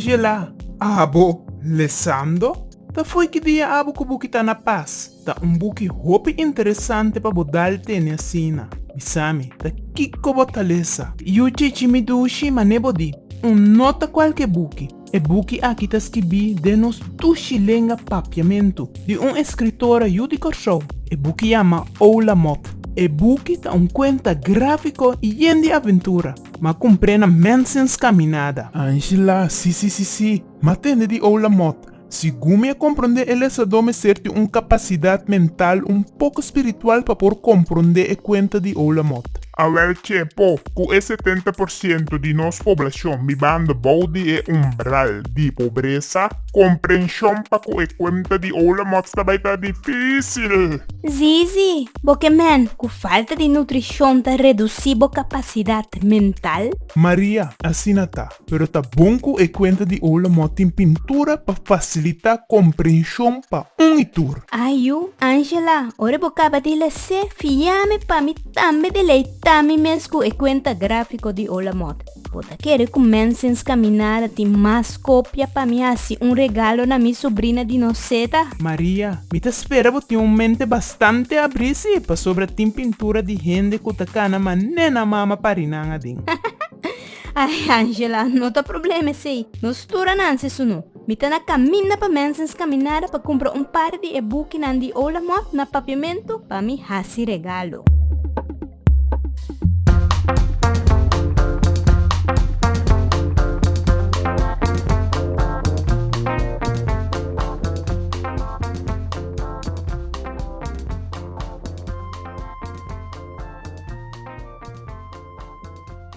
Angela, Abo, lesando? Ta foi ki dia abo ku buki ta na pas? Ta un buki hopi interesante pa bo dal tene asina. Bisami, ta kiko bo ta lesa? Yu chichi mi dushi, mané bo di, un no ta kualke buki. E buki aki ta skibí den nos dushi lenga papiamentu, di un eskritora yu di Kòrsou. E buki yama Oula Mot. E buki ta un kuenta gráfiko i yen di aventura, ma kumpré na mènsens kaminada. Angela, Sí, sí, sí, sí. M'a tende di Oula Mot. Sigun mi a komprondé e lesadó mester tin un kapasidat mental un poko spiritual pa por komprondé e kuenta di Oula Mot. Awel Cepo, Cu e setenta por ciento di nos poblacion bibando bou di e umbral di pobreza, comprension pa cu e cuenta di Olamots ta bay ta dificil. Zizi, Bo ke men cu falta di nutricion ta reduci bo capacidad mental? Maria, Asina ta. Pero ta bon ku e kuenta di Oulomot tin pintura pa fasilitá komprenshon pa un i tur. Ayu, Angela, ora bo kaba di les'é, fiáme pa mi tambe deleitá mi mes ku e kuenta gráfiko di Oulomot. Bo ta kere ku Manson's Kaminada tin mas kopia pa mi hasi un regalo na mi subrina di Noceda? Maria, Mi ta spera bo tin un mente bastante abrí si, pasobra tin pintura di hende ku ta kana manera nan mama parinan aden. Ay, Angela, no ta problema esei. Nos tur a nanse su no. Mi ta na kaminda pa Mensens Kaminada pa kumpra un par di e bukinan di Ola Mòt na Papiamentu pa mi hasi regalo.